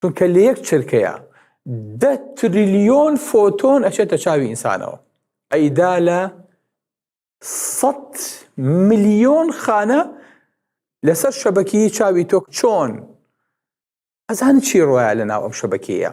چونکە لە یەک چرکەیا دە تریلیۆن فۆتۆن ئەچێتە چاوی ئینسانەوە ئەیدا لە سەد ملیۆن خانە لەسەر شەبەکی چاوی تۆک چۆن ئەزان چی ڕایە لە ناو ئەم شەبەکەیە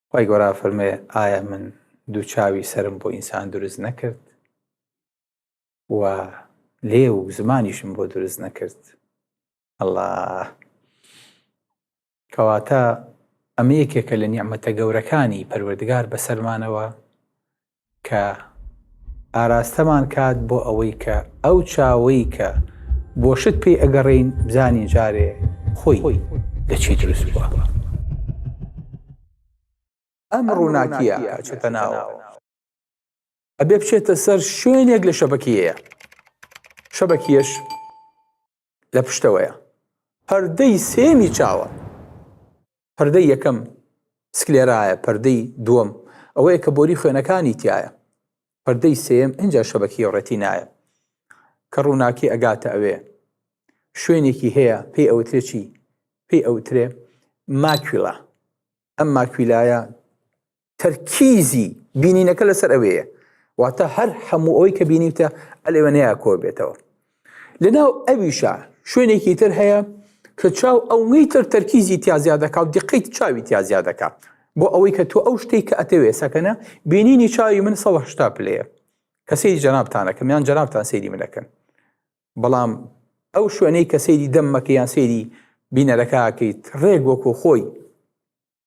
خوای گەورە فەرموێ ئایا من دوو چاوی سەرم بۆ ئینسان دروست نەکرد و لێ و زمانیشم بۆ دروست نەکرد ئەله کەواتە ئەمە یەکێکە لە نیعممەتە گەورەکانی پەروەردگار بەسەرمانەوە کە ئاراستەمان کات بۆ ئەوەی کە ئەو چاوەی کە بۆ شت پێی ئەگەڕین بزانین جارێ خۆی لە چی دروست بووە ئەم ڕووناکیە چێتە ناوە ئەبێ بچێتە سەر شوێنێک لە شەبەکیەیە شەبەکیەش لە پشتەوەیە پەردەی سێمی چاوە پەردەی یەکەم سکلێرایە پەردەی دووەم ئەوەیە کە بۆری خوێنەکانی تایە پەردەی سێم ئەجا شەبەکی ڕێتی نایە کە ڕووناکی ئەگاتە ئەوێ شوێنێکی هەیە پێی ئەوترێکی پێی ئەوترێ ماکویلا ئەم ماکویلایە تەرکیزی بینینەکە لەسەر ئەوەیە واتە هەر هەموو ئەوەی کە بینیتە ئەلێوە نەیە کۆ بێتەوە لەناو ئەویشە شوێنێکی تر هەیە کە چاو ئەوەی تر تەرکیزی تیازیا دەکات و دیقیت چاوی تیازیا دەکات بۆ ئەوەی کە تۆ ئەو شتێک کە ئەتەوێ سەکەنە بینینی چاوی من سەهشتا پلەیە کە سەیری جەنابتانەکەم یان جەنابتان سەیری منەکەن بەڵام ئەو شوێنەی کە سەیری دەممەکە یان سەیری بینەرەکەکەیت ڕێک وەکو خۆی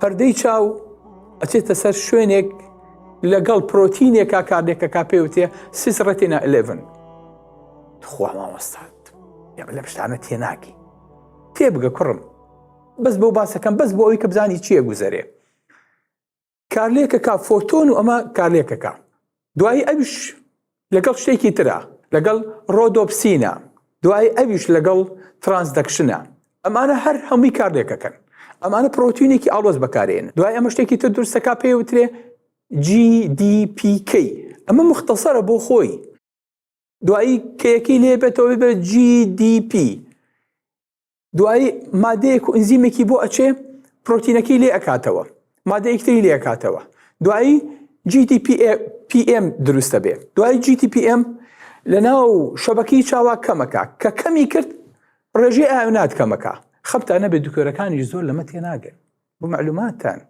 پەردەی چاو ئەچێتە سەر شوێنێک لەگەڵ پرۆتینێکا کارێکە کا پێوتێ سیس ڕەتینا 11 خوا مامۆستات لە پشتانە تێناکی تێبگە کوڕم بەس بۆ باسەکەم بەس بۆ ئەوی کە بزانی چییە گوزەرێ کارلێکەکە فۆتۆن و ئەمە کارلێکەکە دوایی ئەوش لەگەڵ شتێکی ترە لەگەڵ ڕۆدۆپسینە دوایی ئەوش لەگەڵ ترانسدەکشنە ئەمانە هەر هەمووی کارلێکەکەن ئەمانە پرۆتینێکی ئاڵۆز بەکارێن دوای ئەمە شتێکی تر درستەکە پێ وترێ GDPK ئەمە مختصرە بۆ خۆی دوایی کەیەکی لێ بێتەوە بە GDP دوایی مادەیەک و ئنزیمێکی بۆ ئەچێ پرۆتینەکەی لێ ئەکاتەوە مادەیەکتری لێ ئەکاتەوە دوایی GDPM دروستە بێ دوای GTPM لە ناو شەبەکەی چاوا کەمەکە کە کەمی کرد ڕێژەی ئاونات کەمەکە خەبتانە بێ دکتۆرەکانی زۆر لەمە تێناگەن بۆ معلوماتان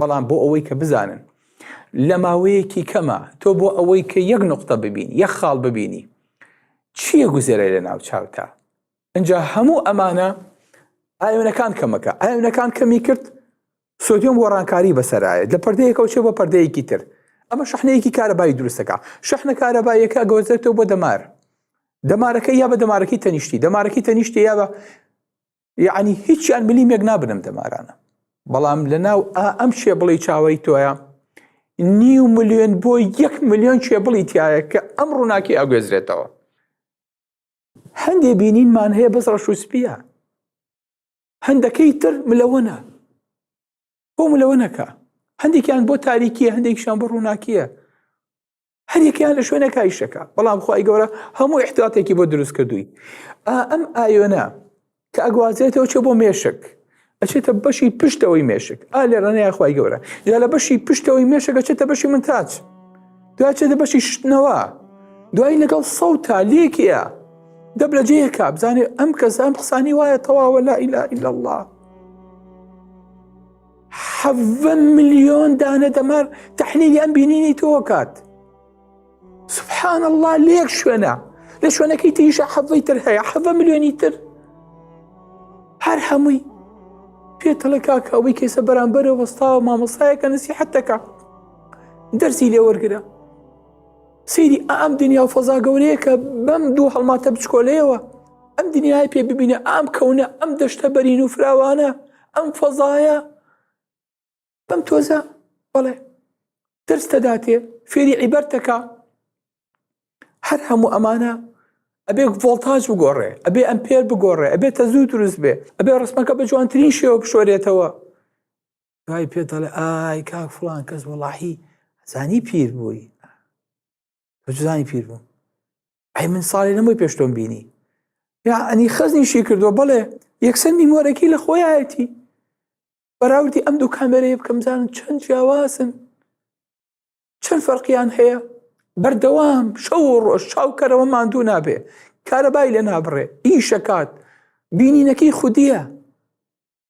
بەڵام بۆ ئەوەی کە بزانن لە ماوەیەکی کەمە تۆ بۆ ئەوەی کە یەک نقطە ببین یەک خاڵ ببینی چییە گوزەرە لە ناو چاوتا ئەجا هەموو ئەمانە ئاوێنەکان کەمەکە ئاوێنەکان کەمی کرد سۆدیۆم گۆڕانکاری بەسەرایەت لە پردەیەکەوە چێ بە پردەیەکی تر ئەمە شحنەیەکی کارەبای دروستەکە شحنە کارەبایەکە گۆزێتەوە بۆ دەمار دەمارەکە یا بە دەمارەکەی تەنیشتی دەمارەکەی تەنیشتی یا بە یعنی هیچیان ملیمێک نابنم دەمارانە بەڵام لە ناو ئا ئەم شێ بڵی چاوەی تۆیە نیو ملیۆن بۆ یەک ملیۆن شێ بڵی تایە کە ئەم ڕووناکی ئاگوێزرێتەوە هەندێ بینینمان هەیە بەس ڕەش و سپیە هەندەکەی تر ملەوەە بۆ ملەوەەکە هەندێکیان بۆ تاریکیە هەندێکشان بۆ ڕووناکیە هەریەکەیان لە شوێنە کایشەکە بەڵام خی گەورە هەموو احتاتێکی بۆ دروست کردووی ئەم ئایۆنە کە ئەگوازێتەوە چێ بۆ مێشک ئەچێتە بەشی پشتەوەی مێشک ئا لێ ڕێنەیە خی گەورە یا لە بەشی پشتەوەی مێشەکە چێتە بەشی من تاچ دواچێتە بەشی شتنەوە دوای لەگەڵ سەو تا لێکیە دەب لە جێ کا بزانێ ئەم کەسان قسانی وایە تەواوە لا ئیلا ئیلا الله حەڤە ملیۆن دانە دەمار تەحلیلی ئەم بینینی تۆکات سبحان الله لێک شوێنە لە شوێنەکەی تریشە حەڤەی تر هەیە حەڤە ملیۆنی تر هەر هەمووی پێتەڵە کاکە ئەوەی کێسە بەرامبەرە وەستاوە مامەسایەکە نسی حەتەکە دەرسی لێ وەرگرە سری ئەم دنیا و فەزا گەورەیەکە بەم دوو هەڵماتە بچکۆلەیەوە ئەم دنیای پێ ببینە ئام کەونە ئەم دەشتە بەرین و فراوانە ئەم فەزایە بەم تۆزە بەڵێ درس دەداتێ فێری عیبەرتەکە هەر هەموو ئەمانە ئەبێ ڤۆلتاج بگۆڕێ ئەبێ ئەم پێر بگۆڕێ ئەبێ تە زوو دروست بێ ئەبێ ڕسمەکە بە جوانترین شێوە بشۆرێتەوە دوای پێ دەڵێ ئای کاک فلان کەس وڵاحی زانی پیر بووی جزانی پیر بووم ئەی من ساڵی لەمەوەی پێشتۆم بینی یا ئەنی خەزنیشی کردووە بڵێ یەکسەر نیمۆرەکی لە خۆیەتی بەراوردی ئەم دوو کامێرەیە بکەم زانم چەند جیاوازن چەند فەرقیان هەیە بەردەوام شەو و ڕۆژ چاوکەرەوە ماندوو نابێ کارەبای لە نابڕێ ئیشەکات بینینەکەی خودیە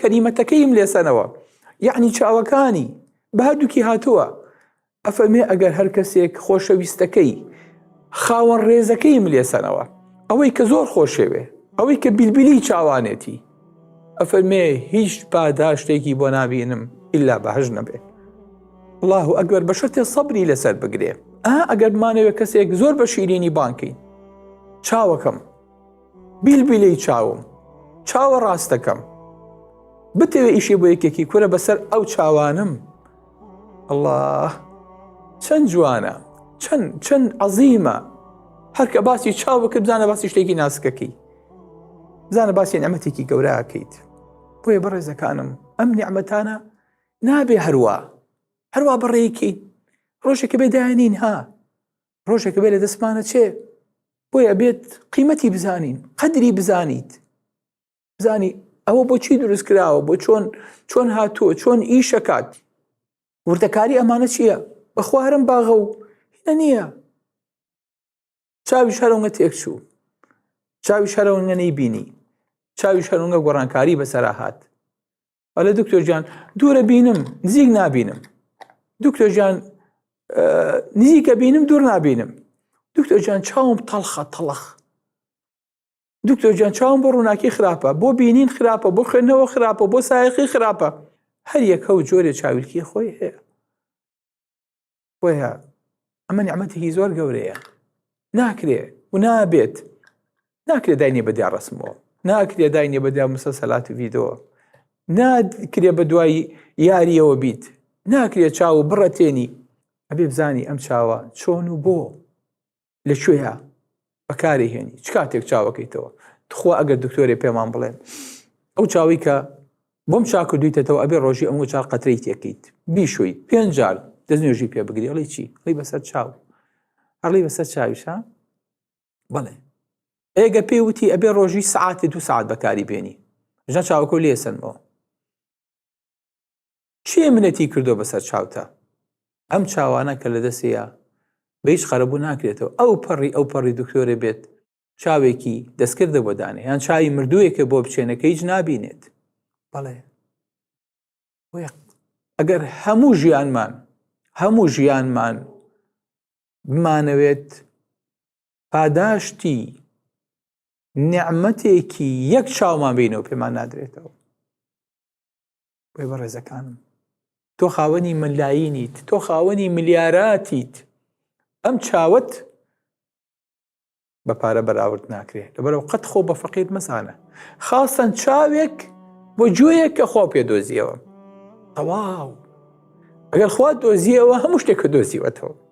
کەلیمەتەکەیم لێسەنەوە یعنی چاوەکانی بە هەردووکی هاتووە ئەفەرمێ ئەگەر هەر کەسێک خۆشەویستەکەی خاوەن ڕێزەکەیم لێسەنەوە ئەوەی کە زۆر خۆشەوێ ئەوەی کە بیلبیلی چاوانێتی ئەفەرمێ هیچ پاداشتێکی بۆ نابینم ئللا بەهش نەبێ الله و ئەگەر بە شەرتێ سەبری لەسەر بگرێ ئا ئەگەر بمانەوێت کەسێک زۆر بە شیرینی بانکەین چاوەکەم بیلبیلەی چاوم چاوە ڕاستەکەم بتەوێ ئیشێ بۆ یەکێکی کورە بەسەر ئەو چاوانم الله چەند جوانە چەند چەند عەزیمە هەرکە باسی چاو بکرد بزانە باسی شتێکی ناسکەکەی بزانە باسی نەمەتێکی گەوراکەیت بۆیە بەڕێزەکانم ئەم نیعممەتانە نابێ هەروە هەروە بەڕێکی ڕۆژێکە بێدانین ها ڕۆژێکە بێ لە دەستمانە چێ بۆی ئەبێت قیمەتی بزانین قەدری بزانیت بزانی ئەوە بۆچی دروست کراوە بۆ چۆن چۆن هاتووە چۆن ئیشەکات وردەکاری ئەمانە چییە بەخوارم باغە و هینە نییە چاوی شەرەوە تێکچوو چاوی شەرەوەگە نەی بینی چاوی شەرونگە گۆڕانکاری بەسەرا هات ئەلێ دکتۆر جان دوورە بینم نزیک نابینم دکتۆر جان نزیکە بینم دوور نابینم دکتۆر جان چاوم تەڵخە تەڵخ دکتۆر جان چاوم بۆ ڕووناکی خراپە بۆ بینین خراپە بۆ خوێندنەوە خراپە بۆ سایەقی خراپە هەر یەکە و جۆرێ چاویلکی خۆی هەیە بۆیە ئەمە نیعممەتێکی زۆر گەورەیە ناکرێ و نابێت ناکرێ داینێ بەدیا ڕسمەوە ناکرێ داینێ بەدیا مسەسەلات و ڤیدۆ ناکرێ بە دوای یاریەوە بیت ناکرێ چاو و بڕەتێنی ئەبێ بزانی ئەم چاوە چۆن و بۆ لە کوێە بەکاری هێنی چ کاتێک چاوەکەیتەوە تخوا ئەگەر دکتۆرێ پێمان بڵێن ئەو چاوی کە بۆم چاکو دویتەوە ئەبێ ڕۆژی ئەمە چار قەتری تێکیت بیشویت پێنجار دەست نوێژی پێ بگری ئەڵی چی ئەڵی بەسەر چاو ئەڵی بەسەر چاویشە بڵێ ئێگە پێی وتی ئەبێ ڕۆژی سعاتی دو سعات بەکاری بێنی ژە چاوکۆ لێسنەوە کێ منەتی کردوە بەسەر چاوتا؟ ئەم چاوانە کە لەدەسێیا بە هیچ قەرەبوو ناکرێتەوە ئەو پەڕی ئەو پەڕی دکتۆرێ بێت چاوێکی دەستکردە بۆ دانێ یان چاوی مردوویەکە بۆ بچێنەکە هیچ نابینێت بەڵێ ئەگەر هەموو ژیانمان هەموو ژیانمان بمانەوێت پاداشتی نعمەتێکی یەک چاومان بینەوە پێمان نادرێتەوە بۆی بەڕێزەکانم تۆ خاوەنی مەلایینیت تۆ خاوەنی ملیاراتیت ئەم چاوت بە پارە بەراورد ناکرێت لەبەرەو قەت خۆ بە فەقیر مەزانە خاستەن چاوێک بۆ جوێیەک کە خۆ پێ دۆزیەوە تەواو ئەگەر خوا دۆزیەوە هەموو شتێک کە دۆزیوەتەوە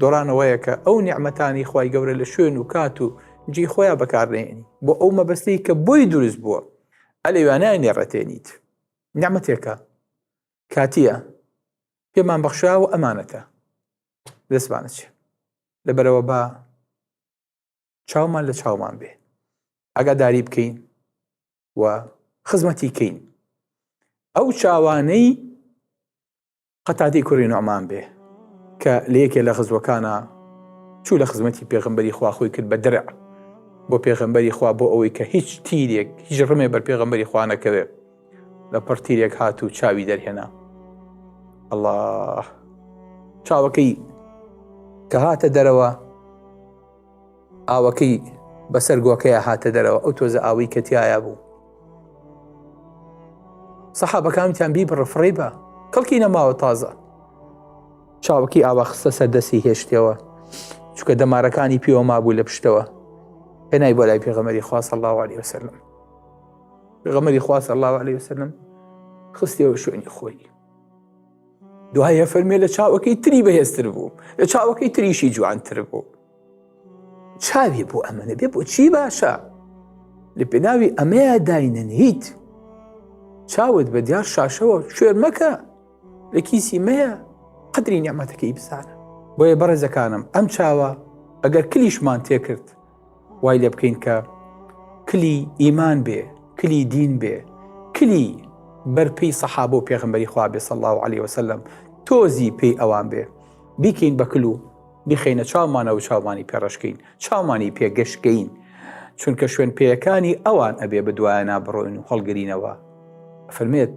دۆڕانەوەیەکە ئەو نیعمەتانی خوای گەورە لە شوێن و کات و جی خۆیان بەکاردێنی بۆ ئەو مەبەستەی کە بۆی دروست بووە ئەلێوانای نێڕەتێنیت نعمەتێکە کاتیە پێمان بەخشا و ئەمانەتە دەستمانە چێ لەبەرەوە بە چاومان لە چاومان بێ ئەگاداری بکەین و خزمەتی کەین ئەو چاوانەی قەتادەی کوڕی نوعمان بێ کە لە یەکێ لە غزوەکانە چوو لە خزمەتی پێغمبەری خوا خۆی کرد بە درع بۆ پێغمبەری خوا بۆ ئەوەی کە هیچ تیرێک هیچ ڕمێ بەر پێغمبەری خوا نەکەوێ لە پڕ تیرێک هات و چاوی دەرهێنا الله چاوەکەی کە هاتە دەرەوە ئاوەکەی بەسەر گۆکەیە هاتە دەرەوە ئەو تۆزە ئاوی کە تایە بوو سەحابەکانتان بی بڕفڕی بە کەڵکی نەماوە تازە چاوەکی ئاوا خستە سەردەسی هێشتەوە چکە دەمارەکانی پێوە مابوو لە پشتەوە هێنای بۆ لای پێغەمەری خواص الله عليه وسلم پێغەمەری خواص الله عليه وسلم خستەوە شوێنی خۆی دوایە فەرمێ لە چاوەکەی تری بەهێزتر بوو لە چاوەکەی تریشی جوانتر بوو چاوی بۆ ئەمەە بێ بۆ چی باشە لە پێناوی ئەمەیە داینەن هیت چاوت بە دیار شاشەوە شوێر مەکە لە کیسی مەیە قدری نیامەتەکەی بزانە بۆیە بەڕێزەکانم ئەم چاوە ئەگەر کلیشمان تێکرد وای لێ بکەین کە کلی ئیمان بێ کلی دین بێ کلی بەرپی سەحاب و پێغمبەری خوا بێ سەڵ و علی وسلم تۆزی پێی ئەوان بێ بیکەین بە کلو بیخینە چاومانە و چاوانی پێڕشکین چاوانی پێگەشتگەین چونکە شوێن پێیەکانی ئەوان ئەبێ بدوایە نابڕۆین و هەڵگرینەوە فەرمێت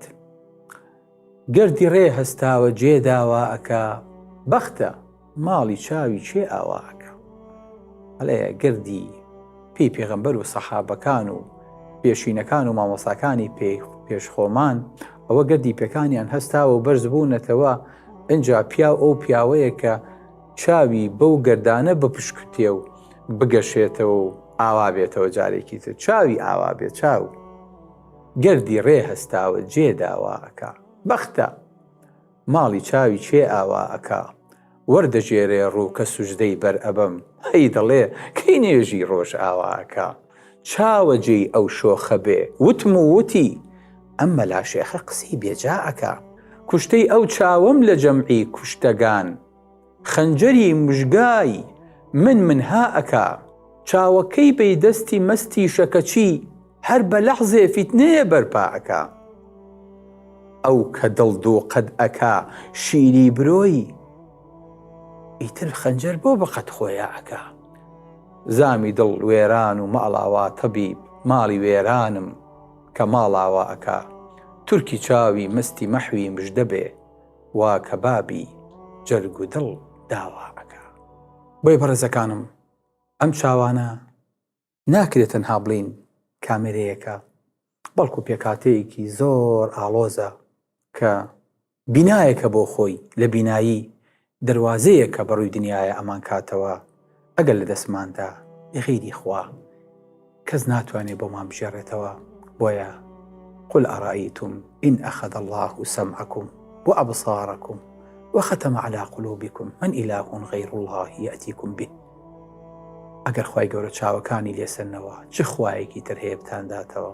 گردی ڕێ هەستاوە جێ داوا ئەکا بەختە ماڵی چاوی کێ ئاوا ئەکا ئەڵێ گردی پێی پێغەمبەر و سەحابەکان و پێشینەکان و مامۆساکانی پێ پێش خۆمان ئەوە گردی پێکانیان هەستاوە و بەرز بوونەتەوە ئەجا پیاو ئەو پیاوەیە کە چاوی بەو گردانە بپشکتێ و بگەشێتەوە و ئاوا بێتەوە جارێکی تر چاوی ئاوا بێ چاو گردی ڕێ هەستاوە جێ داوا ئەکا. بەختە! ماڵی چاوی کێ ئاوا ئەکا. وەردەگێرێ ڕوو کە سوجدەی بەر ئەبەم. هەی دەڵێ کەی نوێژی ڕۆژئاوا ئەکا. چاوە جێی ئەو شۆخە بێ وتم و وتی، ئەم مەلا شێخە قسەی بێجا ئەکا. کوشتەی ئەو چاوەم لە جەمعی کوشتەگان. خەنجەری مژگای من من ها ئەکا. چاوەکەی بەی دەستی مەستیشە کەچی هەر بە لەحزێ فیتنەیە بەرپا ئەکا. ئەو کە دڵ دوو قەد ئەکا شیری برۆی، ئیتر خەنجەر بۆ بە قەد خۆیا ئەکا. زامی دڵ وێران و ماڵاوا تەبیب ماڵی وێرانم کە ماڵاوا ئەکا. تورکی چاوی مەستی مەحوی مژدە بێ. وا کەبابی جەرگ و دڵ داوا ئەکا. بۆیە بەڕێزەکانم ئەم چاوانە ناکرێ تەنها بڵین کامێرەیەکە بەڵکو پێکهاتەیەکی زۆر ئاڵۆزە کە بینایەکە بۆ خۆی لە بینایی دەروازەیەکە بەڕووی دنیایە ئەمانکاتەوە ئەگەر لە دەستماندا ی غیری خوا کەس ناتوانێ بۆمان بگێڕێتەوە بۆیە قل ارایتم ان اخذ اللە سمعکم و ابصارکم و ختم علی قلوبکم من اله غیر اللە یاتیکم به ئەگەر خوای گەورە چاوەکانی لێسەنەوە چ خوایەکی تر هەیە بتانداتەوە؟